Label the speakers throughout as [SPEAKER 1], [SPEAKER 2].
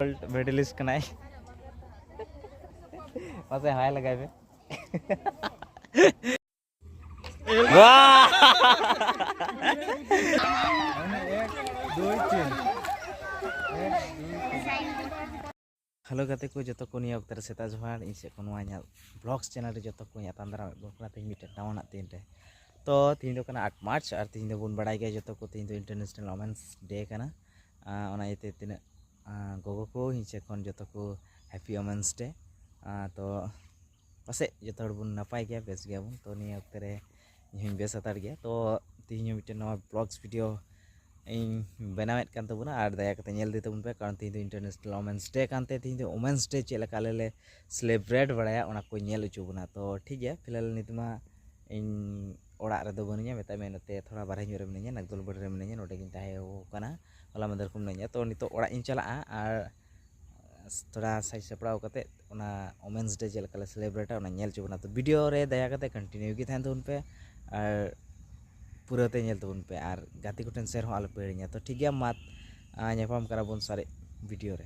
[SPEAKER 1] gold ᱢᱮᱰᱮᱞᱤᱥᱴ ᱠᱟᱱᱟᱭ ᱢᱟᱥᱮ ᱦᱟᱭ ᱞᱟᱜᱟᱭ ᱯᱮ ᱦᱮᱞᱳ ᱜᱟᱛᱮ ᱠᱚ ᱡᱚᱛᱚ ᱠᱚ ᱱᱤᱭᱟᱹ ᱚᱠᱛᱚ ᱨᱮ ᱥᱮᱛᱟᱜ ᱡᱚᱦᱟᱨ ᱤᱧ ᱥᱮᱫ ᱠᱷᱚᱱ ᱱᱚᱣᱟ ᱤᱧᱟᱹᱜ ᱵᱞᱚᱜᱥ ᱪᱮᱱᱮᱞ ᱨᱮ ᱡᱚᱛᱚ ᱠᱚᱧ ᱟᱛᱟᱝ ᱫᱟᱨᱟᱢ ᱮᱫ ᱵᱚᱱ ᱠᱟᱱᱟ ᱛᱮᱦᱮᱧ ᱢᱤᱫᱴᱮᱱ ᱱᱟᱣᱟᱱᱟᱜ ᱫᱤᱱ ᱨᱮ ᱛᱚ ᱛᱮᱦᱮᱧ ᱫᱚ ᱠᱟᱱᱟ ᱟᱴ ᱢᱟᱨᱪ ᱟᱨ ᱛᱮᱦᱮᱧ ᱫᱚᱵᱚᱱ ᱵᱟᱲᱟᱭ ᱜᱮᱭᱟ ᱡᱚᱛᱚ ᱠᱚ ᱛᱮᱦᱮᱧ ᱫᱚ ᱤᱱᱴᱟᱨᱱᱮᱥᱱᱟᱞ ᱚᱢᱮᱱᱥ ᱰᱮ ᱠᱟᱱᱟ ᱚᱱᱟ ᱤᱭᱟᱹᱛᱮ ᱛᱤᱱᱟᱹᱜ ᱜᱚᱜᱚ ᱠᱚ ᱤᱧ ᱥᱮᱫ ᱠᱷᱚᱱ ᱡᱚᱛᱚ ᱠᱚ ᱦᱮᱯᱤ ᱳᱢᱮᱱᱥ ᱰᱮ ᱛᱚ ᱯᱟᱥᱮᱡ ᱡᱚᱛᱚ ᱦᱚᱲ ᱵᱚᱱ ᱱᱟᱯᱟᱭ ᱜᱮᱭᱟ ᱵᱮᱥ ᱜᱮᱭᱟ ᱵᱚᱱ ᱛᱚ ᱱᱤᱭᱟᱹ ᱚᱠᱛᱮ ᱨᱮ ᱤᱧ ᱦᱚᱸᱧ ᱵᱮᱥ ᱦᱟᱛᱟᱲ ᱜᱮᱭᱟ ᱛᱚ ᱛᱮᱦᱮᱧ ᱦᱚᱸ ᱢᱤᱫᱴᱮᱱ ᱱᱟᱣᱟ ᱵᱞᱚᱜᱽᱥ ᱵᱷᱤᱰᱭᱳ ᱤᱧ ᱵᱮᱱᱟᱣᱮᱫ ᱠᱟᱱ ᱛᱟᱵᱚᱱᱟ ᱟᱨ ᱫᱟᱭᱟ ᱠᱟᱛᱮ ᱧᱮᱞ ᱤᱫᱤ ᱛᱟᱵᱚᱱ ᱯᱮ ᱠᱟᱨᱚᱱ ᱛᱮᱦᱮᱧ ᱫᱚ ᱤᱱᱴᱟᱨᱱᱮᱥᱱᱟᱞ ᱳᱢᱮᱱᱥ ᱰᱮ ᱠᱟᱱᱛᱮ ᱛᱮᱦᱮᱧ ᱫᱚ ᱳᱢᱮᱱᱥ ᱰᱮ ᱪᱮᱫ ᱞᱮᱠᱟ ᱟᱞᱮ ᱞᱮ ᱥᱮᱞᱮᱵᱨᱮᱴ ᱵᱟᱲᱟᱭᱟ ᱚᱱᱟ ᱠᱚ ᱧᱮᱞ ᱦᱚᱪᱚ ᱵᱚᱱᱟ ᱛᱚ ᱴᱷᱤᱠ ᱜᱮᱭᱟ ᱯᱷᱤᱞᱦᱟᱞ ᱱᱤᱛ ᱢᱟ ᱤᱧ ᱚᱲᱟᱜ ᱨᱮᱫᱚ ᱵᱟᱹᱱᱩᱧᱟ ᱢᱮᱛᱟᱭ ᱢᱮ ᱱᱚᱛᱮ ᱛᱷᱚᱲᱟ ᱵᱟᱨᱦᱮ ᱧᱚᱜ ᱨᱮ ᱢᱤᱱᱟᱹᱧᱟ ᱱᱟᱜᱽᱫᱚᱞ ᱵᱟᱹᱲᱤ ᱨᱮ ᱢᱤᱱᱟᱹᱧᱟ ᱱᱚᱰᱮ ᱜᱤᱧ ᱛᱟᱦᱮᱸ ᱟᱠᱟᱱᱟ ᱦᱚᱞᱟ ᱢᱟᱫᱷᱮᱨ ᱠᱷᱚᱱ ᱢᱤᱱᱟᱹᱧᱟ ᱛᱚ ᱱᱤᱛᱚᱜ ᱚᱲᱟᱜ ᱤᱧ ᱪᱟᱞᱟᱜᱼᱟ ᱟᱨ ᱛᱷᱚᱲᱟ ᱥᱟᱡᱽ ᱥᱟᱯᱲᱟᱣ ᱠᱟᱛᱮᱫ ᱚᱱᱟ ᱳᱢᱮᱱᱥ ᱰᱮ ᱪᱮᱫ ᱞᱮᱠᱟ ᱞᱮ ᱥᱮᱞᱮᱵᱨᱮᱴᱟ ᱚᱱᱟᱧ ᱧᱮᱞ ᱦᱚᱪᱚ ᱵᱚᱱᱟ ᱛᱚ ᱵᱷᱤᱰᱤᱭᱳ ᱨᱮ ᱫᱟᱭᱟ ᱠᱟᱛᱮᱫ ᱠᱚᱱᱴᱤᱱᱤᱭᱩ ᱜᱮ ᱛᱟᱦᱮᱱ ᱛᱟᱵᱚᱱ ᱯᱮ ᱟᱨ ᱯᱩᱨᱟᱹ ᱛᱮ ᱧᱮᱞ ᱛᱟᱵᱚᱱ ᱯᱮ ᱟᱨ ᱜᱟᱛᱮ ᱠᱚᱴᱷᱮᱱ ᱥᱮᱭᱟᱨ ᱦᱚᱸ ᱟᱞᱚᱯᱮ ᱦᱤᱲᱤᱧᱟ ᱛᱚ ᱴᱷᱤᱠ ᱜᱮᱭᱟ ᱢᱟ ᱧᱟᱯᱟᱢ ᱠᱟᱱᱟ ᱵᱚᱱ ᱥᱟᱨᱮᱡ ᱵᱷᱤᱰᱤᱭᱳ ᱨᱮ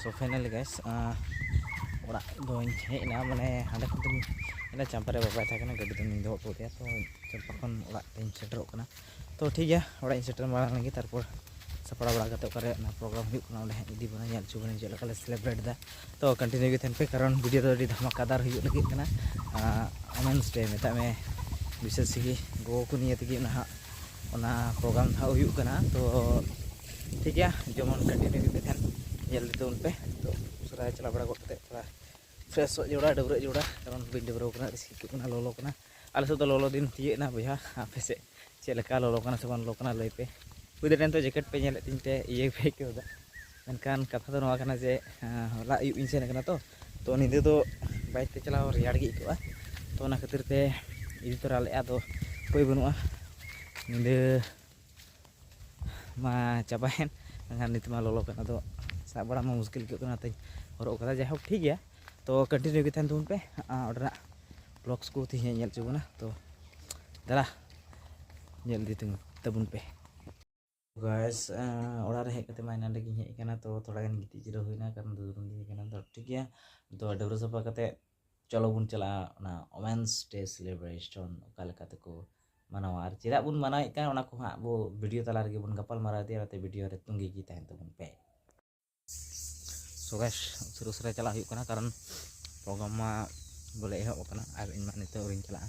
[SPEAKER 1] ᱥᱚ ᱯᱷᱟᱭᱱᱟᱞᱤ ᱜᱟᱭᱥ ᱚᱲᱟᱜ ᱫᱚᱧ ᱦᱮᱡ ᱮᱱᱟ ᱢᱟᱱᱮ ᱦᱟᱸᱰᱮ ᱠᱷᱚᱱ ᱫᱚᱧ ᱢᱟᱱᱮ ᱪᱟᱢᱯᱟ ᱨᱮ ᱵᱟᱵᱟᱭ ᱛᱟᱦᱮᱸ ᱠᱟᱱᱟ ᱜᱟᱹᱰᱤ ᱫᱚᱧ ᱫᱚᱦᱚ ᱦᱚᱴᱚ ᱟᱫᱮᱭᱟ ᱛᱚ ᱪᱟᱢᱯᱟ ᱠᱷᱚᱱ ᱚᱲᱟᱜ ᱛᱮᱧ ᱥᱮᱴᱮᱨᱚᱜ ᱠᱟᱱᱟ ᱛᱚ ᱴᱷᱤᱠ ᱜᱮᱭᱟ ᱚᱲᱟᱜ ᱤᱧ ᱥᱮᱴᱮᱨ ᱢᱟᱲᱟᱝ ᱞᱮᱱᱜᱮ ᱛᱟᱨᱯᱚᱨ ᱥᱟᱯᱲᱟᱣ ᱵᱟᱲᱟ ᱠᱟᱛᱮ ᱚᱠᱟᱨᱮ ᱚᱱᱟ ᱯᱨᱳᱜᱨᱟᱢ ᱦᱩᱭᱩᱜ ᱠᱟᱱᱟ ᱚᱸᱰᱮ ᱦᱟᱸᱜ ᱤᱫᱤ ᱵᱚᱱᱟ ᱧᱮᱞ ᱦᱚᱪᱚ ᱵᱚᱱᱟ ᱪᱮᱫ ᱞᱮᱠᱟᱞᱮ ᱥᱮᱞᱮᱵᱨᱮᱴ ᱮᱫᱟ ᱛᱚ ᱠᱚᱱᱴᱤᱱᱤᱭᱩ ᱜᱮ ᱛᱟᱦᱮᱱ ᱯᱮ ᱠᱟᱨᱚᱱ ᱵᱷᱤᱰᱤᱭᱳ ᱫᱚ ᱟᱹᱰᱤ ᱫᱷᱟᱢᱟᱠᱟᱫᱟᱨ ᱦᱩᱭᱩᱜ ᱞᱟᱹᱜᱤᱫ ᱠᱟᱱᱟ ᱚᱢᱮᱱᱥ ᱰᱮ ᱢᱮᱛᱟᱜ ᱢᱮ ᱵᱤᱥᱮᱥ ᱜᱮ ᱜᱚᱜᱚ ᱠᱚ ᱱᱤᱭᱮ ᱛᱮᱜᱮ ᱱᱟᱦᱟᱜ ᱚᱱᱟ ᱯᱨᱳᱜᱨᱟᱢ ᱫᱚ ᱦᱩᱭᱩᱜ ᱠᱟᱱᱟ ᱛᱚ ᱴᱷᱤᱠ ᱜᱮᱭᱟ ᱡᱮᱢᱚᱱ ᱠᱚᱱᱴᱤᱱᱤᱭᱩ ᱦᱩᱭᱩᱜ ᱠᱟᱱ ᱠᱷᱟᱱ ᱧᱮᱞ ᱤᱫᱤ ᱛᱟᱵᱚᱱ ᱯᱮ ᱛᱚ ᱩᱥᱟᱹᱨᱟ ᱪᱟᱞᱟᱣ ᱵᱟᱲᱟ ᱜᱚᱫ ᱠᱟᱛᱮᱫ ᱛᱷᱚᱲᱟ ᱯᱷᱨᱮᱥᱚᱜ ᱡᱟᱹᱨᱩᱲᱟ ᱰᱟᱹᱵᱽᱨᱟᱹᱜ ᱡᱟᱹᱨᱩᱲᱟ ᱠᱟᱨᱚᱱ ᱵᱟᱹᱧ ᱰᱟᱹᱵᱽᱨᱟᱹᱣ ᱠᱟᱱᱟ ᱟᱹᱰᱤ ᱥᱤᱛᱩᱝ ᱠᱟᱱᱟ ᱞᱚᱞᱚ ᱠᱟᱱᱟ ᱟᱞᱮ ᱥᱮᱫ ᱫᱚ ᱞᱚᱞᱚ ᱫᱤᱱ ᱛᱤᱭᱟᱹᱜ ᱮᱱᱟ ᱵᱚᱭᱦᱟ ᱟᱯᱮ ᱥᱮᱫ ᱪᱮᱫ ᱞᱮᱠᱟ ᱞᱚᱞᱚ ᱠᱟᱱᱟ ᱥᱮ ᱵᱟᱝ ᱞᱚᱞᱚ ᱠᱟᱱᱟ ᱞᱟᱹᱭ ᱯᱮ ᱦᱩᱭ ᱫᱟᱲᱮᱭᱟᱜᱼᱟ ᱱᱤᱛᱚᱜ ᱡᱮᱠᱮᱴ ᱯᱮ ᱧᱮᱞᱮᱫ ᱛᱤᱧ ᱛᱮ ᱤᱭᱟᱹ ᱯᱮ ᱟᱹᱭᱠᱟᱹᱣ ᱮᱫᱟ ᱢᱮᱱᱠᱷᱟᱱ ᱠᱟᱛᱷᱟ ᱫᱚ ᱱᱚᱣᱟ ᱠᱟᱱᱟ ᱡᱮ ᱦᱚᱞᱟ ᱟᱹᱭᱩᱵ ᱤᱧ ᱥᱮᱱ ᱠᱟᱱᱟ ᱛᱚ ᱛᱚ ᱧᱤᱫᱟᱹ ᱫᱚ ᱵᱟᱭᱤᱠ ᱛᱮ ᱪᱟᱞᱟᱣ ᱨᱮᱭᱟᱲ ᱜᱮ ᱟᱹᱭᱠᱟᱹᱜᱼᱟ ᱛᱚ ᱚᱱᱟ ᱠᱷᱟᱹᱛᱤᱨ ᱛᱮ ᱤᱫᱤ ᱛᱚᱨᱟ ᱞᱮᱫᱼᱟ ᱟᱫᱚ ᱩᱯᱟᱹᱭ ᱵᱟᱹᱱᱩᱜᱼᱟ ᱧᱤᱫᱟᱹ ᱢᱟ ᱪᱟᱵᱟᱭᱮᱱ ᱢᱮᱱᱠᱷᱟᱱ ᱱᱤᱛ ᱢᱟ ᱞᱚᱞᱚ ᱠᱟᱱᱟ ᱟᱫᱚ ᱥᱟᱵ ᱵᱟᱲᱟ ᱢᱟ ᱢᱩᱥᱠᱤᱞ ᱟᱹᱭᱠᱟᱹᱜ ᱠᱟᱱᱟ ᱚᱱᱟᱛᱮᱧ ᱦᱚᱨᱚᱜ ᱠᱟᱫᱟ ᱡᱟᱭᱦᱳᱠ ᱴᱷᱤᱠ ᱜᱮᱭᱟ ᱛᱚ ᱠᱚᱱᱴᱤᱱᱤᱭᱩ ᱜᱮ ᱛᱟᱦᱮᱱ ᱛᱟᱵᱚᱱ ᱯᱮ ᱚᱸᱰᱮᱱᱟᱜ ᱵᱞᱚᱜᱥ ᱠᱚ ᱛᱮᱦᱮᱧ ᱧᱮᱞ ᱦᱚᱪᱚ ᱵᱚᱱᱟ ᱛᱚ ᱫᱟᱫᱟ ᱧᱮᱞ ᱤᱫᱤ ᱛᱟᱵᱚᱱ ᱯᱮ ᱜᱟᱭᱥ ᱚᱲᱟᱜ ᱨᱮ ᱦᱮᱡ ᱠᱟᱛᱮ ᱢᱟ ᱮᱱᱟᱱ ᱨᱮᱜᱮᱧ ᱦᱮᱡ ᱟᱠᱟᱱᱟ ᱛᱚ ᱛᱷᱚᱲᱟ ᱜᱟᱱ ᱜᱤᱛᱤᱡ ᱡᱤᱨᱟᱹᱣ ᱦᱩᱭᱱᱟ ᱠᱟᱨᱚᱱ ᱫᱩᱨᱩᱢ ᱫᱤᱧ ᱠᱟᱱᱟ ᱛᱚ ᱴᱷᱤᱠ ᱜᱮᱭᱟ ᱛᱚ ᱰᱟᱹᱵᱽᱨᱟᱹ ᱥᱟᱯᱷᱟ ᱠᱟᱛᱮ ᱪᱚᱞᱚ ᱵᱚᱱ ᱪᱟᱞᱟᱜᱼᱟ ᱚᱱᱟ ᱳᱢᱮᱱᱥ ᱰᱮ ᱥᱮᱞᱮᱵᱨᱮᱥᱚᱱ ᱚᱠᱟ ᱞᱮᱠᱟ ᱛᱮᱠᱚ ᱢᱟᱱᱟᱣᱟ ᱟᱨ ᱪᱮᱫᱟᱜ ᱵᱚᱱ ᱢᱟᱱᱟᱣᱮᱫ ᱠᱟᱱᱟ ᱚᱱᱟ ᱠᱚ ᱦᱟᱸᱜ ᱟᱵᱚ ᱵᱷᱤᱰᱤᱭᱳ ᱛᱟᱞᱟ ᱨᱮᱜᱮ ᱵᱚᱱ ᱜᱟᱯᱟᱞ ᱢᱟᱨᱟᱣ ᱤᱫᱤᱭᱟ ᱚᱱᱟᱛᱮ ᱵᱷᱤᱰᱤᱭᱳ ᱨᱮ ᱛᱩᱸᱜᱤ ᱜᱮ ᱛᱟᱦᱮᱱ ᱛᱟᱵᱚᱱ ᱯᱮ ᱥᱚᱜᱟᱭ ᱩᱥᱟᱹᱨᱟ ᱩᱥᱟᱹᱨᱟ ᱪᱟᱞᱟᱜ ᱦᱩᱭᱩᱜ ᱠᱟᱱᱟ ᱠᱟᱨᱚᱱ ᱯᱨᱳᱜᱨᱟᱢ ᱢᱟ ᱵᱚᱞᱮ ᱮᱦᱚᱵ ᱟᱠᱟᱱᱟ ᱟᱨ ᱤᱧ ᱢᱟ ᱱᱤᱛᱚᱜ ᱟᱹᱣᱨᱤᱧ ᱪᱟᱞᱟᱜᱼᱟ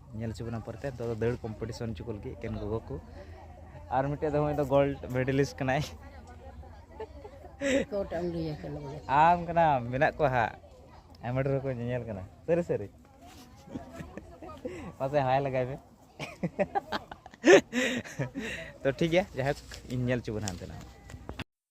[SPEAKER 1] ᱧᱮᱞ ᱦᱚᱪᱚ ᱵᱚᱱᱟ ᱯᱚᱨᱮᱛᱮ ᱱᱤᱛᱚᱜ ᱫᱚ ᱫᱟᱹᱲ ᱠᱚᱢᱯᱤᱴᱤᱥᱚᱱ ᱦᱚᱪᱚ ᱠᱚ ᱞᱟᱹᱜᱤᱫ ᱮᱠᱮᱱ ᱜᱚᱜᱚ ᱠᱚ ᱟᱨ ᱢᱤᱫᱴᱮᱡ ᱫᱚ ᱩᱱᱤ ᱫᱚ ᱜᱳᱞᱰ ᱢᱮᱰᱮᱞᱤᱥᱴ ᱠᱟᱱᱟᱭ ᱟᱢ ᱠᱟᱱᱟ ᱢᱮᱱᱟᱜ ᱠᱚᱣᱟ ᱦᱟᱸᱜ ᱟᱭᱢᱟ ᱰᱷᱮᱨ ᱠᱚ ᱧᱮᱧᱮᱞ ᱠᱟᱱᱟ ᱥᱟᱹᱨᱤ ᱥᱟᱹᱨᱤ ᱢᱟᱥᱮ ᱦᱟᱭ ᱞᱟᱜᱟᱭ ᱢᱮ ᱛᱚ ᱴᱷᱤᱠ ᱜᱮᱭᱟ ᱡᱟᱭᱦᱳᱠ ᱤᱧ ᱧᱮᱞ ᱦᱚᱪᱚ ᱵᱚᱱᱟ ᱦᱟᱱᱛᱮ ᱱᱟᱜ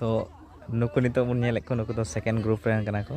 [SPEAKER 1] ᱛᱚ ᱱᱩᱠᱩ ᱱᱤᱛᱚᱜ ᱵᱚᱱ ᱧᱮᱞᱮᱫ ᱠᱚ ᱱᱩᱠᱩ ᱫᱚ ᱥᱮᱠᱮᱱᱰ ᱜᱨᱩᱯ ᱨᱮᱱ ᱠᱟᱱᱟ ᱠᱚ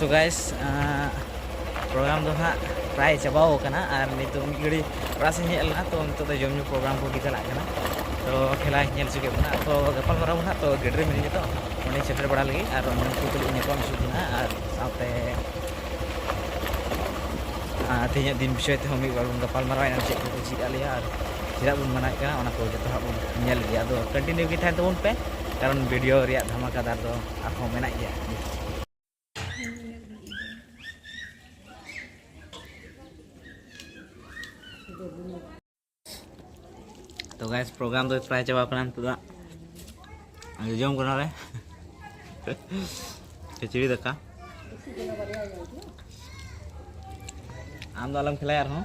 [SPEAKER 1] ᱥᱚ ᱜᱟᱭᱥ ᱯᱨᱳᱜᱨᱟᱢ ᱫᱚ ᱦᱟᱸᱜ ᱯᱨᱟᱭ ᱪᱟᱵᱟᱣ ᱟᱠᱟᱱᱟ ᱟᱨ ᱱᱤᱛᱚᱜ ᱢᱤᱫ ᱜᱷᱟᱹᱲᱤᱡ ᱚᱲᱟᱜ ᱥᱮᱫ ᱦᱮᱡ ᱞᱮᱱᱟ ᱛᱚ ᱱᱤᱛᱚᱜ ᱫᱚ ᱡᱚᱢ ᱧᱩ ᱯᱨᱳᱜᱨᱟᱢ ᱠᱚᱜᱮ ᱪᱟᱞᱟᱜ ᱠᱟᱱᱟ ᱛᱚ ᱠᱷᱮᱞᱟ ᱧᱮᱞ ᱦᱚᱪᱚ ᱠᱮᱫ ᱵᱚᱱᱟ ᱛᱚ ᱜᱟᱯᱟᱞ ᱢᱟᱨᱟᱣ ᱵᱚᱱᱟ ᱛᱚ ᱜᱟᱹᱰᱤ ᱨᱮ ᱢᱤᱱᱟᱹᱧᱟ ᱛᱚ ᱚᱸᱰᱮ ᱥᱮᱴᱮᱨ ᱵᱟᱲᱟ ᱞᱟᱹᱜᱤᱫ ᱟᱨ ᱩᱱᱠᱩ ᱛᱩᱞᱩᱡ ᱧᱟᱯᱟᱢ ᱦᱚᱪᱚ ᱠᱤᱱᱟ ᱟᱨ ᱥᱟᱶᱛᱮ ᱛᱮᱦᱮᱧᱟᱜ ᱫᱤᱱ ᱵᱤᱥᱚᱭ ᱛᱮᱦᱚᱸ ᱢᱤᱫ ᱵᱟᱨ ᱵᱚᱱ ᱜᱟᱯᱟᱞ ᱢᱟᱨᱟᱣᱮᱱᱟ ᱪᱮᱫ ᱠᱚᱠᱚ ᱪᱮᱫ ᱟᱫ ᱞᱮᱭᱟ ᱟᱨ ᱪᱮᱫᱟᱜ ᱵᱚᱱ ᱢᱟᱱᱟᱜ ᱠᱟᱱᱟ ᱚᱱᱟ ᱠᱚ ᱡᱚᱛᱚ ᱦᱟᱸᱜ ᱵᱚᱱ ᱧᱮᱞ ᱜᱮᱭᱟ ᱟᱫᱚ ᱠᱚᱱᱴᱤᱱᱤᱭᱩ ᱜᱮ ᱛᱟᱦᱮᱱ ᱛᱟᱵᱚᱱ ᱯᱮ ᱠᱟᱨᱚᱱ ᱵᱷᱤᱰᱤᱭᱳ ᱨᱮᱭᱟᱜ ᱫᱷᱟᱢᱟᱠᱟᱫᱟᱨ ᱫᱚ ᱟᱨᱦᱚᱸ ᱢᱮᱱᱟᱜ ᱜᱮᱭᱟ ᱛᱚ ᱜᱟᱭᱥ ᱯᱨᱳᱜᱨᱟᱢ ᱫᱚ ᱯᱨᱟᱭ ᱪᱟᱵᱟ ᱠᱟᱱᱟ ᱱᱤᱛᱚᱜ ᱫᱚ ᱡᱚᱢ ᱠᱟᱱᱟᱞᱮ ᱠᱷᱤᱪᱲᱤ ᱫᱟᱠᱟ ᱟᱢ ᱫᱚ ᱟᱞᱚᱢ ᱠᱷᱮᱞᱟᱭᱟ ᱟᱨᱦᱚᱸ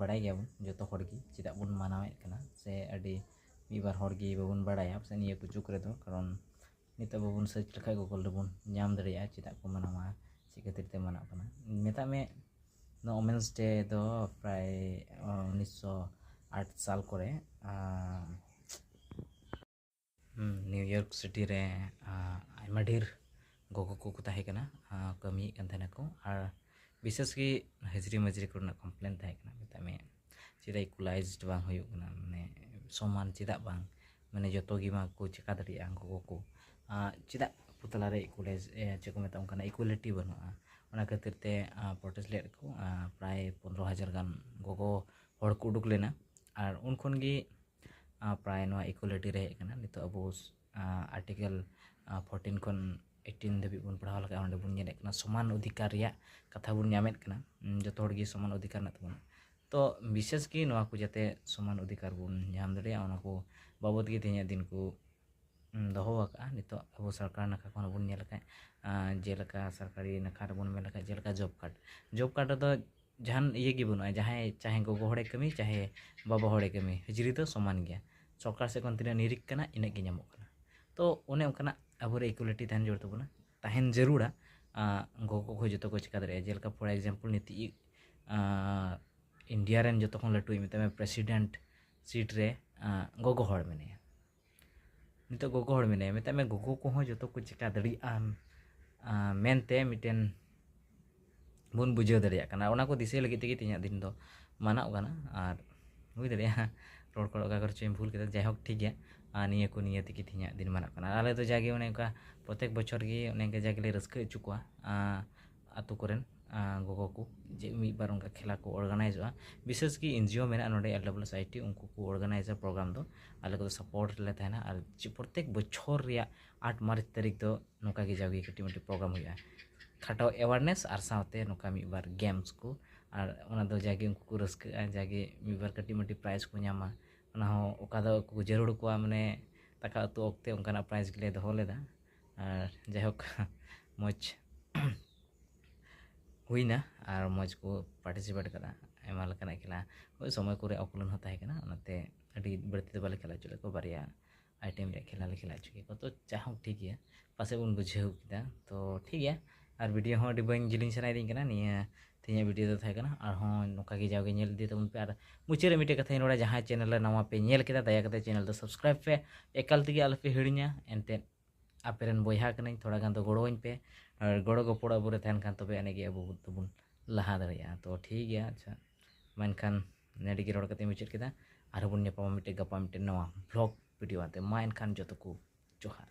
[SPEAKER 1] ᱵᱟᱲᱟᱭ ᱜᱮᱭᱟᱵᱚᱱ ᱡᱚᱛᱚ ᱦᱚᱲ ᱜᱮ ᱪᱮᱫᱟᱜ ᱵᱚᱱ ᱢᱟᱱᱟᱣᱮᱫ ᱠᱟᱱᱟ ᱥᱮ ᱟᱹᱰᱤ ᱢᱤᱫ ᱵᱟᱨ ᱦᱚᱲ ᱜᱮ ᱵᱟᱵᱚᱱ ᱵᱟᱲᱟᱭᱟ ᱥᱮ ᱱᱤᱭᱟᱹ ᱠᱚ ᱡᱩᱜᱽ ᱨᱮᱫᱚ ᱠᱟᱨᱚᱱ ᱱᱤᱛᱚᱜ ᱵᱟᱵᱚᱱ ᱥᱟᱨᱪ ᱞᱮᱠᱷᱟᱡ ᱜᱩᱜᱳᱞ ᱨᱮᱵᱚᱱ ᱧᱟᱢ ᱫᱟᱲᱮᱭᱟᱜᱼᱟ ᱪᱮᱫᱟᱜ ᱠᱚ ᱢᱟᱱᱟᱣᱟ ᱪᱮᱫ ᱠᱷᱟᱹᱛᱤᱨ ᱛᱮ ᱢᱟᱱᱟᱜ ᱠᱟᱱᱟ ᱢᱮᱛᱟᱜ ᱢᱮ ᱱᱚᱣᱟ ᱳᱢᱮᱱᱥ ᱰᱮ ᱫᱚ ᱯᱨᱟᱭ ᱩᱱᱤᱥᱥᱚ ᱟᱴ ᱥᱟᱞ ᱠᱚᱨᱮ ᱱᱤᱭᱩ ᱤᱭᱚᱨᱠ ᱥᱤᱴᱤ ᱨᱮ ᱟᱭᱢᱟ ᱰᱷᱮᱨ ᱜᱚᱜᱚ ᱠᱚᱠᱚ ᱛᱟᱦᱮᱸ ᱠᱟᱱᱟ ᱠᱟᱹᱢᱤᱭᱮᱫ ᱠᱟᱱ ᱛᱟᱦᱮᱱᱟᱠᱚ ᱟᱨ ᱵᱤᱥᱮᱥ ᱜᱮ ᱦᱟᱹᱡᱽᱨᱤ ᱢᱟᱹᱡᱽᱨᱤ ᱠᱚᱨᱮᱱᱟᱜ ᱠᱚᱢᱯᱞᱮᱱ ᱛᱟᱦᱮᱸ ᱠᱟᱱᱟ ᱢᱮᱛᱟᱜ ᱢᱮ ᱪᱮᱫᱟᱜ ᱤᱠᱩᱞᱟᱭᱤᱡᱽᱰ ᱵᱟᱝ ᱦᱩᱭᱩᱜ ᱠᱟᱱᱟ ᱢᱟᱱᱮ ᱥᱚᱢᱟᱱ ᱪᱮᱫᱟᱜ ᱵᱟᱝ ᱢᱟᱱᱮ ᱡᱚᱛᱚ ᱜᱮ ᱵᱟᱝ ᱠᱚ ᱪᱮᱠᱟ ᱫᱟᱲᱮᱭᱟᱜᱼᱟ ᱜᱚᱜᱚ ᱠᱚ ᱪᱮᱫᱟᱜ ᱟᱠᱚ ᱛᱟᱞᱟ ᱨᱮ ᱤᱠᱩᱞᱟᱭᱤᱡᱽ ᱪᱮᱫ ᱠᱚ ᱢᱮᱛᱟᱜᱼᱟ ᱚᱱᱠᱟᱱᱟᱜ ᱤᱠᱩᱭᱮᱞᱤᱴᱤ ᱵᱟᱹᱱᱩᱜᱼᱟ ᱚᱱᱟ ᱠᱷᱟᱹᱛᱤᱨ ᱛᱮ ᱯᱨᱚᱴᱮᱥᱴ ᱞᱮᱫ ᱠᱚ ᱯᱨᱟᱭ ᱯᱚᱱᱨᱚ ᱦᱟᱡᱟᱨ ᱜᱟᱱ ᱜᱚᱜᱚ ᱦᱚᱲ ᱠᱚ ᱩᱰᱩᱠ ᱞᱮᱱᱟ ᱟᱨ ᱩᱱ ᱠᱷᱚᱱ ᱜᱮ ᱯᱨᱟᱭ ᱱᱚᱣᱟ ᱤᱠᱩᱭᱮᱞᱤᱴᱤ ᱨᱮ ᱦᱮᱡ ᱟᱠᱟᱱᱟ ᱱᱤᱛᱚᱜ ᱟᱵᱚ ᱟᱨᱴᱤᱠᱮᱞ ᱯᱷᱳᱨᱴᱤᱱ ᱠᱷᱚᱱ ᱮᱭᱤᱴᱤᱱ ᱫᱷᱟᱹᱵᱤᱡ ᱵᱚᱱ ᱯᱟᱲᱦᱟᱣ ᱞᱮᱠᱷᱟᱡ ᱚᱸᱰᱮ ᱵᱚᱱ ᱧᱮᱞᱮᱫ ᱠᱟᱱᱟ ᱥᱚᱢᱟᱱ ᱚᱫᱷᱤᱠᱟᱨ ᱨᱮᱭᱟᱜ ᱠᱟᱛᱷᱟ ᱵᱚᱱ ᱧᱟᱢᱮᱫ ᱠᱟᱱᱟ ᱡᱚᱛᱚ ᱦᱚᱲ ᱜᱮ ᱥᱚᱢᱟᱱ ᱚᱫᱷᱤᱠᱟᱨ ᱢᱮᱱᱟᱜ ᱛᱟᱵᱚᱱᱟ ᱛᱚ ᱵᱤᱥᱮᱥ ᱜᱮ ᱱᱚᱣᱟ ᱠᱚ ᱡᱟᱛᱮ ᱥᱚᱢᱟᱱ ᱚᱫᱷᱤᱠᱟᱨ ᱵᱚᱱ ᱧᱟᱢ ᱫᱟᱲᱮᱭᱟᱜ ᱚᱱᱟ ᱠᱚ ᱵᱟᱵᱚᱫ ᱜᱮ ᱛᱮᱦᱮᱧᱟᱜ ᱫᱤᱱ ᱠᱚ ᱫᱚᱦᱚ ᱟᱠᱟᱫᱼᱟ ᱱᱤᱛᱚᱜ ᱟᱵᱚ ᱥᱚᱨᱠᱟᱨ ᱱᱟᱠᱷᱟ ᱠᱷᱚᱱ ᱵᱚᱱ ᱧᱮᱞ ᱞᱮᱠᱷᱟᱡ ᱡᱮᱞᱮᱠᱟ ᱥᱚᱨᱠᱟᱨᱤ ᱱᱟᱠᱷᱟ ᱨᱮᱵᱚᱱ ᱢᱮᱱ ᱞᱮᱠᱷᱟᱡ ᱡᱮᱞᱮᱠᱟ ᱡᱚᱵᱽ ᱠᱟᱨᱰ ᱡᱚᱵᱽ ᱠᱟᱨᱰ ᱨᱮᱫᱚ ᱡᱟᱦᱟᱱ ᱤᱭᱟᱹ ᱜᱮ ᱵᱟᱹᱱᱩᱜᱼᱟ ᱡᱟᱦᱟᱸᱭ ᱪᱟᱦᱮ ᱜᱚᱜᱚ ᱦᱚᱲᱮ ᱠᱟᱹᱢᱤ ᱪᱟᱦᱮ ᱵᱟᱵᱟ ᱦᱚᱲᱮ ᱠᱟᱹᱢᱤ ᱦᱟᱹᱡᱽᱨᱤ ᱫᱚ ᱥᱚᱢᱟᱱ ᱜᱮᱭᱟ ᱥᱚᱨᱠᱟᱨ ᱥᱮᱫ ᱠᱷᱚᱱ ᱛᱤᱱᱟᱹᱜ ᱱᱤᱨᱤᱠ ᱠᱟᱱᱟ ᱤᱱᱟᱹᱜ ᱜᱮ ᱧᱟᱢᱚᱜ ᱠᱟᱱᱟ ᱛᱚ ᱚᱱᱮ ᱚᱱᱠᱟᱱᱟᱜ ᱟᱵᱚᱨᱮ ᱤᱠᱩᱭᱮᱞᱤᱴᱤ ᱛᱟᱦᱮᱱ ᱡᱟᱹᱨᱩᱲ ᱛᱟᱵᱚᱱᱟ ᱛᱟᱦᱮᱱ ᱡᱟᱹᱨᱩᱲᱟ ᱜᱚᱜᱚ ᱠᱚ ᱡᱚᱛᱚ ᱠᱚ ᱪᱤᱠᱟᱹ ᱫᱟᱲᱮᱭᱟᱜᱼᱟ ᱡᱮᱞᱮᱠᱟ ᱯᱷᱚᱨ ᱮᱠᱡᱟᱢᱯᱚᱞ ᱱᱤᱛᱤᱡ ᱤᱱᱰᱤᱭᱟ ᱨᱮᱱ ᱡᱚᱛᱚ ᱠᱷᱚᱱ ᱞᱟᱹᱴᱩᱭᱤᱡ ᱢᱮᱛᱟᱭ ᱢᱮ ᱯᱨᱮᱥᱤᱰᱮᱱᱴ ᱥᱤᱴ ᱨᱮ ᱜᱚᱜᱚ ᱦᱚᱲ ᱢᱮᱱᱟᱭᱟ ᱱᱤᱛᱚᱜ ᱜᱚᱜᱚ ᱦᱚᱲ ᱢᱮᱱᱟᱭᱟ ᱢᱮᱛᱟᱜ ᱢᱮ ᱜᱚᱜᱚ ᱠᱚᱦᱚᱸ ᱡᱚᱛᱚ ᱠᱚ ᱪᱮᱠᱟ ᱫᱟᱲᱮᱭᱟᱜᱼᱟ ᱢᱮᱱᱛᱮ ᱢᱤᱫᱴᱮᱱ ᱵᱚᱱ ᱵᱩᱡᱷᱟᱹᱣ ᱫᱟᱲᱮᱭᱟᱜ ᱠᱟᱱᱟ ᱚᱱᱟ ᱠᱚ ᱫᱤᱥᱟᱹᱭ ᱞᱟᱹᱜᱤᱫ ᱛᱮᱜᱮ ᱛᱮᱦᱮᱧᱟᱜ ᱫᱤᱱ ᱫᱚ ᱢᱟᱱᱟᱜ ᱠᱟᱱᱟ ᱟᱨ ᱦᱩᱭ ᱫᱟᱲᱮᱭᱟᱜᱼᱟ ᱨᱚᱲ ᱠᱚᱨᱮ ᱚᱠᱟ ᱠᱚᱨᱮ ᱪᱚᱧ ᱵᱷᱩᱞ ᱠᱮᱫᱟ ᱡᱟᱭᱦᱳᱠ ᱴᱷᱤᱠ ᱜᱮᱭᱟ ᱟᱨ ᱱᱤᱭᱟᱹ ᱠᱚ ᱱᱤᱭᱟᱹ ᱛᱮᱜᱮ ᱛᱮᱦᱮᱧᱟᱜ ᱫᱤᱱ ᱢᱟᱱᱟᱜ ᱠᱟᱱᱟ ᱟᱞᱮ ᱫᱚ ᱡᱟᱜᱮ ᱚᱱᱮ ᱚᱱᱠᱟ ᱯᱨᱚᱛᱮᱠ ᱵᱚᱪᱷᱚᱨ ᱜᱮ ᱚᱱᱮ ᱚᱱᱠᱟ ᱡᱟᱜᱮᱞᱮ ᱨᱟᱹᱥᱠᱟᱹ ᱦᱚᱪᱚ ᱠᱚᱣᱟ ᱟᱛᱳ ᱠᱚᱨᱮᱱ ᱜᱚᱜᱚ ᱠᱚ ᱡᱮ ᱢᱤᱫ ᱵᱟᱨ ᱚᱱᱠᱟ ᱠᱷᱮᱞᱟ ᱠᱚ ᱚᱨᱜᱟᱱᱟᱭᱤᱡᱚᱜᱼᱟ ᱵᱤᱥᱮᱥ ᱜᱮ ᱮᱱ ᱡᱤ ᱳ ᱢᱮᱱᱟᱜᱼᱟ ᱱᱚᱰᱮ L W S I T ᱩᱱᱠᱩ ᱠᱚ ᱚᱨᱜᱟᱱᱟᱭᱤᱡᱟ ᱯᱨᱳᱜᱨᱟᱢ ᱫᱚ ᱟᱞᱮ ᱠᱚᱫᱚ ᱥᱟᱯᱳᱨᱴ ᱨᱮᱞᱮ ᱛᱟᱦᱮᱱᱟ ᱟᱨ ᱡᱮ ᱯᱨᱚᱛᱛᱮᱠ ᱵᱚᱪᱷᱚᱨ ᱨᱮᱭᱟᱜ ᱟᱴ ᱢᱟᱨᱪ ᱛᱟᱹᱨᱤᱠᱷ ᱫᱚ ᱱᱚᱝᱠᱟ ᱜᱮ ᱡᱟᱣᱜᱮ ᱠᱟᱹᱴᱤᱡ ᱢᱟᱹᱴᱤᱡ ᱯᱨᱳᱜᱨᱟᱢ ᱦᱩᱭᱩᱜᱼᱟ ᱠᱷᱟᱴᱚ ᱮᱣᱟᱨᱱᱮᱥ ᱟᱨ ᱥᱟᱶᱛᱮ ᱱᱚᱝᱠᱟ ᱢᱤᱫ ᱵᱟᱨ ᱜᱮᱢᱥ ᱠᱚ ᱟᱨ ᱚᱱᱟ ᱫᱚ ᱡᱟᱜᱮ ᱩᱱᱠᱩ ᱠᱚ ᱨᱟᱹᱥᱠᱟᱹᱜᱼᱟ ᱡᱟᱜᱮ ᱢᱤᱫ ᱵᱟᱨ ᱠᱟᱹᱴᱤᱡ ᱢᱟᱹᱴᱤᱡ ᱯᱨᱟᱭᱤᱡᱽ ᱠᱚ ᱧᱟᱢᱟ ᱚᱱᱟ ᱦᱚᱸ ᱚᱠᱟ ᱫᱚ ᱟᱠᱚ ᱠᱚ ᱡᱟᱹᱨᱩᱲ ᱠᱚᱣᱟ ᱢᱟᱱᱮ ᱫᱟᱠᱟ ᱩᱛᱩ ᱚᱠᱛᱮ ᱚᱱᱠᱟᱱᱟᱜ ᱯᱨᱟᱭᱤᱡᱽ ᱜᱮᱞᱮ ᱫᱚᱦᱚ ᱞᱮᱫᱟ ᱟᱨ ᱡᱟᱭᱦᱳᱠ ᱢᱚᱡᱽ ᱦᱩᱭᱱᱟ ᱟᱨ ᱢᱚᱡᱽ ᱠᱚ ᱯᱟᱨᱴᱤᱥᱤᱯᱮᱴ ᱠᱟᱫᱟ ᱟᱭᱢᱟ ᱞᱮᱠᱟᱱᱟᱜ ᱠᱷᱮᱞᱟ ᱳᱭ ᱥᱚᱢᱚᱭ ᱠᱚᱨᱮ ᱚᱠᱩᱞᱟᱹᱱ ᱦᱚᱸ ᱛᱟᱦᱮᱸ ᱠᱟᱱᱟ ᱚᱱᱟᱛᱮ ᱟᱹᱰᱤ ᱵᱟᱹᱲᱛᱤ ᱫᱚ ᱵᱟᱞᱮ ᱠᱷᱮᱞᱟ ᱦᱚᱪᱚ ᱞᱮᱫ ᱠᱚᱣᱟ ᱵᱟᱨᱭᱟ ᱟᱭᱴᱮᱢ ᱨᱮᱭᱟᱜ ᱠᱷᱮᱞᱟ ᱞᱮ ᱠᱷᱮᱞᱟ ᱦᱚᱪᱚ ᱠᱮᱫ ᱠᱚᱣᱟ ᱛᱚ ᱡᱟᱭᱦᱳᱠ ᱴᱷᱤᱠ ᱜᱮᱭᱟ ᱯᱟᱥᱮᱡ ᱵᱚᱱ ᱵᱩᱡᱷᱟᱹᱣ ᱠᱮᱫᱟ ᱛᱚ ᱴᱷᱤᱠ ᱜᱮᱭᱟ ᱟᱨ ᱵᱷᱤᱰᱤᱭᱳ ᱦᱚᱸ ᱟᱹᱰᱤ ᱵᱟᱹᱧ ᱡᱤᱞᱤᱧ ᱥᱟᱱᱟᱭᱮᱫᱤᱧ ᱠᱟᱱᱟ ᱱᱤᱭᱟᱹ ᱛᱮᱦᱮᱧᱟᱜ ᱵᱷᱤᱰᱤᱭᱳ ᱫᱚ ᱛᱟᱦᱮᱸ ᱠᱟᱱᱟ ᱟᱨᱦᱚᱸ ᱱᱚᱝᱠᱟ ᱜᱮ ᱡᱟᱣᱜᱮ ᱧᱮᱞ ᱤᱫᱤ ᱛᱟᱵᱚᱱ ᱯᱮ ᱟᱨ ᱢᱩᱪᱟᱹᱫ ᱨᱮ ᱢᱤᱫᱴᱮᱡ ᱠᱟᱛᱷᱟᱧ ᱨᱚᱲᱟ ᱡᱟᱦᱟᱸᱭ ᱪᱮᱱᱮᱞ ᱨᱮ ᱱᱟᱣᱟ ᱯᱮ ᱧᱮᱞ ᱠᱮᱫᱟ ᱫᱟᱭᱟ ᱠᱟᱛᱮ ᱪᱮᱱᱮᱞ ᱫᱚ ᱥᱟᱵᱥᱠᱨᱟᱭᱤᱵ ᱯᱮ ᱮᱠᱟᱞ ᱛᱮᱜᱮ ᱟᱞᱚᱯᱮ ᱦᱤᱲᱤᱧᱟ ᱮᱱᱛᱮᱫ ᱟᱯᱮ ᱨᱮᱱ ᱵᱚᱭᱦᱟ ᱠᱟᱹᱱᱟᱹᱧ ᱛᱷᱚᱲᱟ ᱜᱟᱱ ᱫᱚ ᱜᱚᱲᱚᱣᱟᱹᱧ ᱯᱮ ᱟᱨ ᱜᱚᱲᱚ ᱜᱚᱯᱚᱲ ᱟᱵᱚ ᱨᱮ ᱛᱟᱦᱮᱱ ᱠᱷᱟᱱ ᱛᱚᱵᱮ ᱟᱹᱱᱤᱡ ᱜᱮ ᱟᱵᱚ ᱫᱚᱵᱚᱱ ᱞᱟᱦᱟ ᱫᱟᱲᱮᱭᱟᱜᱼᱟ ᱛᱚ ᱴᱷᱤᱠ ᱜᱮᱭᱟ ᱟᱪᱪᱷᱟ ᱢᱮᱱᱠᱷᱟᱱ ᱱᱚᱸᱰᱮ ᱜᱮ ᱨᱚᱲ ᱠᱟᱛᱮ ᱢᱩᱪᱟᱹᱫ ᱠᱮᱫᱟ ᱟᱨᱦᱚᱸ ᱵᱚᱱ ᱧᱟᱯᱟᱢᱟ ᱢᱤᱫᱴᱮᱡ ᱜᱟᱯᱟ ᱢᱤᱫᱴᱮᱡ ᱱᱟᱣᱟ ᱵᱷᱞᱚᱜᱽ ᱵᱷᱤᱰᱤᱭᱳ ᱟᱛᱮ ᱢᱟ ᱮᱱᱠᱷᱟᱱ ᱡᱚᱛᱚ ᱠᱚ ᱡᱚᱦᱟᱨ